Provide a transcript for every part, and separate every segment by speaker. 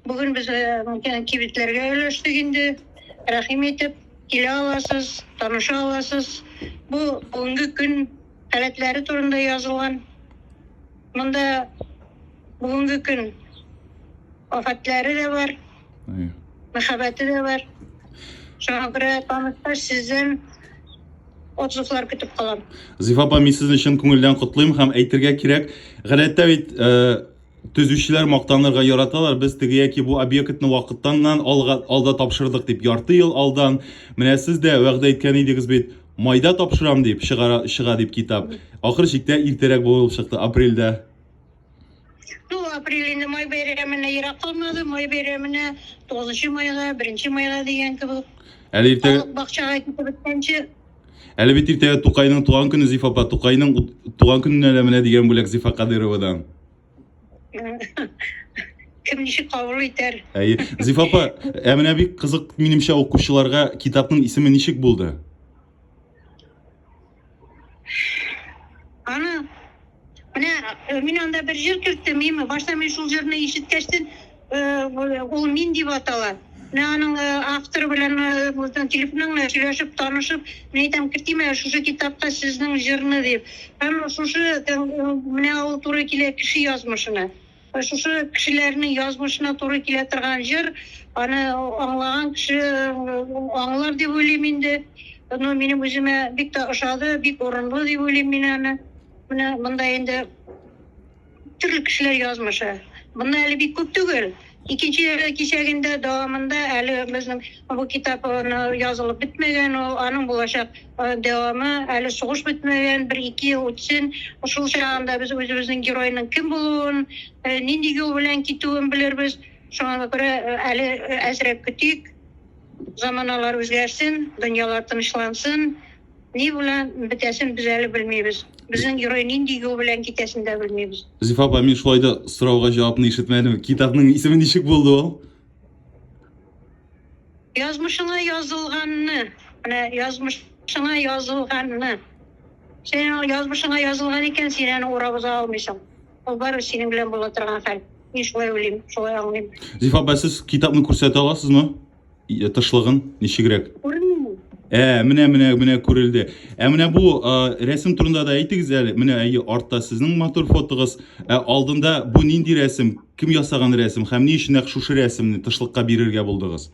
Speaker 1: Бүген без э, кибетләргә өлештек инде. Рәхим итеп килә аласыз, таныша аласыз. Бу бүгенге көн халәтләре турында язылган. Монда бүгенге көн афәтләре дә бар, мәхәббәте дә бар. Шуңа күрә таныштар сездән отзывлар көтеп калам. Зифа апа, мин сезне
Speaker 2: чын күңелдән котлыйм һәм әйтергә кирәк, гадәттә бит э, Төзүчеләр мактанырга яраталар, без теге яки бу объектны вакыттаннан алга, алда тапшырдык дип, ярты ел алдан. Менә сез дә вәгъдә әйткән идегез бит, майда тапшырам дип, чыгара, чыга дип китап. Ахыр чиктә иртәрәк булып чыкты, апрельдә.
Speaker 1: Ну, апрель инде май бәйрәменә ерак калмады, май бәйрәменә 9 майга, 1 майга дигән кебек. Әле иртә... Халык
Speaker 2: бакчага китеп беткәнче,
Speaker 1: Әле бит
Speaker 2: иртәгә Тукайның туган көне Зифа апа. Тукайның туган көненә дә менә дигән бүләк Зифа Кадыровадан. Кем
Speaker 1: ничек кабул итәр? Әйе. Зифа апа,
Speaker 2: ә менә бик кызык минемчә укучыларга китапның исеме ничек булды?
Speaker 1: Аны Менә э, мин анда бер җыр керттем, мин башта мин шул җырны ишеткәчтен э, ул мин дип атала. Менә аның э, авторы белән безнең телефонның белән сөйләшеп, танышып, мин әйтәм, кертим әле шушы китапка сезнең җырны дип. Һәм шушы менә ул туры килә кеше язмышына. Шушы кешеләрнең язмышына туры килә торган җыр, аны аңлаган кеше аңлар дип уйлыйм инде. Ну, минем үземә бик тә ошады, бик урынлы дип уйлыйм мин аны. Менә монда инде төрле кешеләр язмышы. Монда әле бик күп түгел. Икенче кисәгендә дәвамында әле безнең Бу китап аны язылып бетмәгән ул, аның булачак дәвамы, әле сугыш бетмәгән, бер ике ел үтсен, шул чагында без үзебезнең геройның кем булуын, нинди юл белән китүен белербез, шуңа күрә әле әзрәк көтик, заманалар үзгәрсен, дөньялар тынычлансын, ни белән бетәсен без әле белмибез, безнең герой нинди юл белән китәсен дә белмибез. Зифа апа, мин шулай да
Speaker 2: сорауга җавапны ишетмәдем, китапның исеме ничек булды ул? Язмышыңа
Speaker 1: язылганны, менә язмышыңа язылганны. Сен аны язмышыңа язылган икән, син аны урап уза алмыйсың. Ул барыбер синең белән була
Speaker 2: торган хәл. Мин шулай уйлыйм, шулай аңлыйм. Зифа апа, сез китапны күрсәтә аласызмы? Е- Тышлыгын ничегрәк? Күренми. Ә, менә менә менә күрелде. Ә менә бу а, рәсем турында да әйтегез әле. Менә әйе, артта сезнең матур фотогыз. Ә алдында бу нинди рәсем? Кем ясаган рәсем һәм ни өчен нәкъ шушы рәсемне тышлыкка бирергә булдыгыз?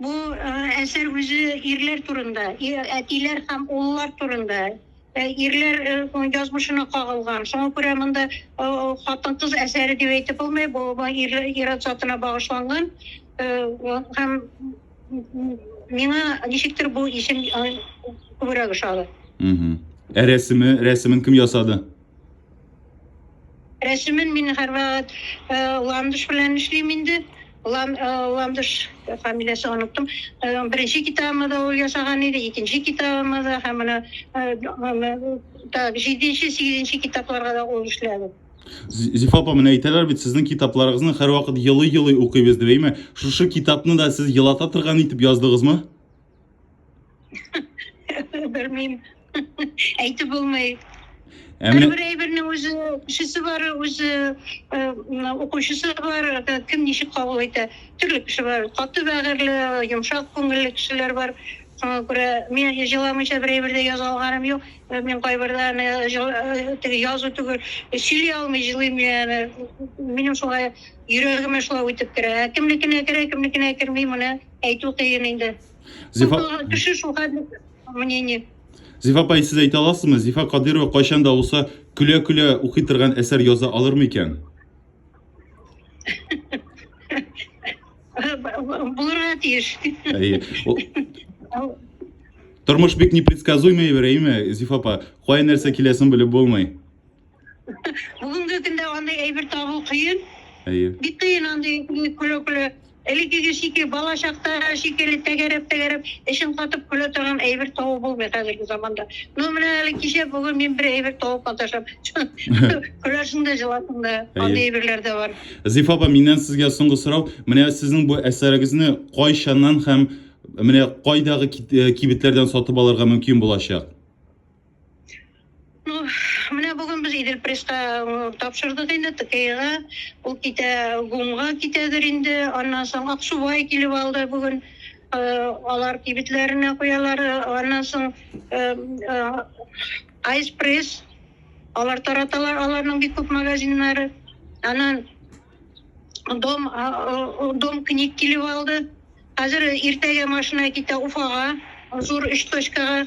Speaker 1: Бу э, әсәр үзе ирләр турында, әтиләр һәм уллар турында. Э, ирләр э, язмышына кагылган. Шуңа күрә монда хатын-кыз әсәре дип әйтеп булмый, бу ир-ат затына багышланган. Һәм миңа ничектер бу исем күбрәк ошады. Ә рәсеме, рәсемен
Speaker 2: кем ясады?
Speaker 1: Рәсемен мин һәрвакыт э, Ландыш белән эшлим инде. Лан, э, Ландыш фамилиясе оныттым. Э, беренче китабымда да ул ясаган иде, икенче китабымда да һәм менә так, җиденче, сигезенче китапларга да ул эшләде. Зифа апа,
Speaker 2: менә әйтәләр бит, сезнең китапларыгызны һәрвакыт елый-елый укыйбыз дип, әйме? Шушы китапны да сез елата торган итеп яздыгызмы?
Speaker 1: Белмим. Әйтеп булмый. Әмне... Бер әйбернең үзе кешесе бар, үзе укучысы бар, кем ничек кабул итә. Төрле кеше бар. Каты бәгырьле, йомшак күңелле кешеләр бар. Шуңа күрә мин җыламыйча бер әйбер дә яза алганым юк. Мин кайбердә теге язу түгел, сөйли алмый җылыйм яме. Минем шулай йөрәгемә шулай үтеп керә. Кемнекенә керә, кемнекенә керми моны. Әйтү кыен инде. Зифа... Кеше шул хәтле мнение. Зифа апай,
Speaker 2: сез әйтә аласызмы? Зифа Кадирова кайчан да булса көлә-көлә укый торган әсәр яза алырмы икән?
Speaker 1: Булырга тиеш.
Speaker 2: Тормыш бик непредсказуемый бер, әйме, Зифа апа? Кая нәрсә киләсен белеп булмый.
Speaker 1: Бүгенге көндә андый әйбер табу кыен. Әйе. Бик кыен андый көле-көле. Элеккеге шикелле бала чакта шикелле тәгәрәп-тәгәрәп эшен катып көлә торган әйбер табу булмый хәзерге заманда. Ну менә әле кичә бүген мин бер әйбер табып маташам. Көләсең дә җыласың да. Андый әйберләр дә бар. Зифа апа, миннән сезгә
Speaker 2: соңгы сорау. Менә сезнең бу әсәрегезне кайчаннан һәм менә кайдагы кибетләрдән сатып алырга мөмкин
Speaker 1: булачак? Ну,
Speaker 2: менә бүген без
Speaker 1: Идел Пресска тапшырдык инде ТКИга. Ул китә ГУМга китәдер инде. Аннан соң Аксубай килеп алды бүген. Алар кибетләренә куялар. Аннан соң Айспресс алар тараталар, аларның бик күп магазиннары. Аннан Дом Дом книг килеп алды. Хәзер иртәгә машина китә Уфага, зур 3 точкага.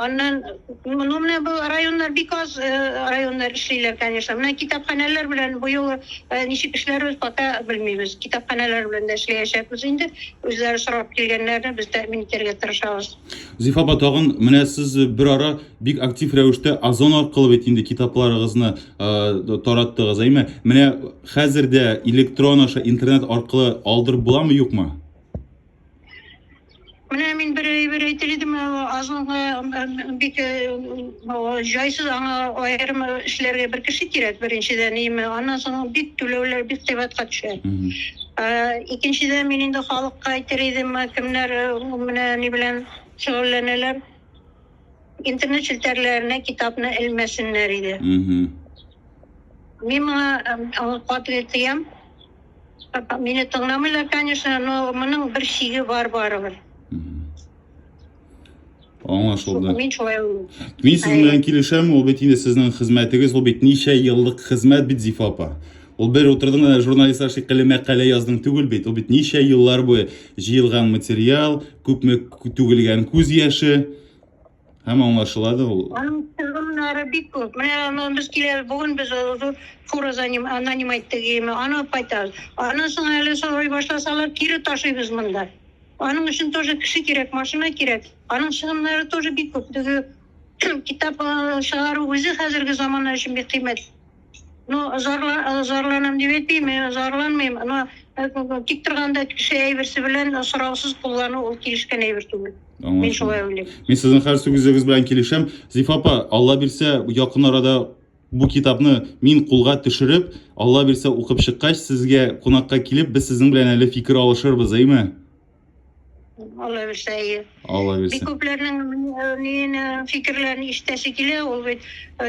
Speaker 1: Аннан, ну менә бу районнар бик аз районнар эшлиләр, конечно. Менә китапханәләр белән быел ничек эшләрбез, пока белмибез. Китапханәләр белән дә эшләячәкбез инде. Үзләре сорап килгәннәрне без тәэмин итәргә тырышабыз. Зифа апа, тагын
Speaker 2: менә сез бер ара бик актив рәвештә Озон аркылы бит инде китапларыгызны тараттыгыз, әйме? Менә хәзер дә электрон аша интернет аркылы алдырып буламы, юкмы?
Speaker 1: Менә мин бер әйбер әйтер идем, азлыгы бик җайсыз аңа аерым эшләргә бер кеше кирәк беренчедән, име, аннан соң бик түләүләр бик кыйбатка төшә. Икенчедән мин инде халыкка әйтер идем, кемнәр менә ни белән шөгыльләнәләр, интернет челтәрләренә китапны элмәсеннәр иде. Мин моңа катгый тыям. Мине
Speaker 2: тыңламыйлар, конечно, но моның бер шиге бар
Speaker 1: барыбер. Аңлашылды. Мин шулай Мин сез белән
Speaker 2: килешәм, ул бит инде сезнең хезмәтегез, ул бит ничә еллык хезмәт бит Зифа апа. Ул бер утырдың да журналистлар шикелле мәкалә яздың түгел бит. Ул бит ничә еллар буе җыелган материал, күпме түгелгән күз яше. Һәм аңлашыла да ул. Аның чыгымнары
Speaker 1: бик күп. Менә без киләбез, бүген без зур фура наним әйттек, ими, аны алып кайтабыз. Аннан соң әле сорый башласалар, кире ташыйбыз монда. Аның өчен тоже кеше кирәк, машина кирәк. Аның чыгымнары тоже бик күп. Теге китап чыгару үзе хәзерге замана өчен бик кыйммәт. Ну, жарла, э, жарланам дип әйтмим, э, жарланмыйм. Но э, тик торганда кеше әйберсе белән э, сораусыз куллану ул килешкән әйбер түгел. Мин Аңлашылды. шулай уйлыйм. Мин сезнең хәл сүзегез
Speaker 2: белән килешәм. Зифа апа, Алла бирсә, якын арада бу китапны мин кулга төшереп, Алла бирсә укып чыккач, сезгә кунакка килеп, без сезнең белән әле фикер алышырбыз, әйме?
Speaker 1: Алла бирсә, әйе. Алла бирсә. Бик
Speaker 2: күпләрнең
Speaker 1: мине фикерләрен ишетәсе килә, ул бит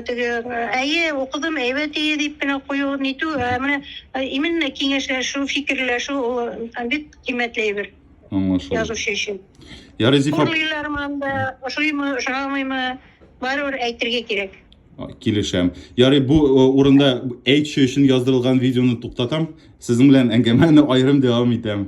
Speaker 1: теге әйе, укыдым, әйбәт ие дип кенә кую, нитү, ә менә именно киңәшләшү, фикерләшү ул бик кыйммәтле әйбер. Аңлашылды. Язучы
Speaker 2: өчен.
Speaker 1: Ярый, Зифа.
Speaker 2: Урлыйлармы анда,
Speaker 1: ошыймы, ошамыймы, барыбер әйтергә кирәк. Килешәм.
Speaker 2: Ярый, бу урында әйтче өчен яздырылган видеоны туктатам. Сезнең белән әңгәмәне аерым дәвам итәм.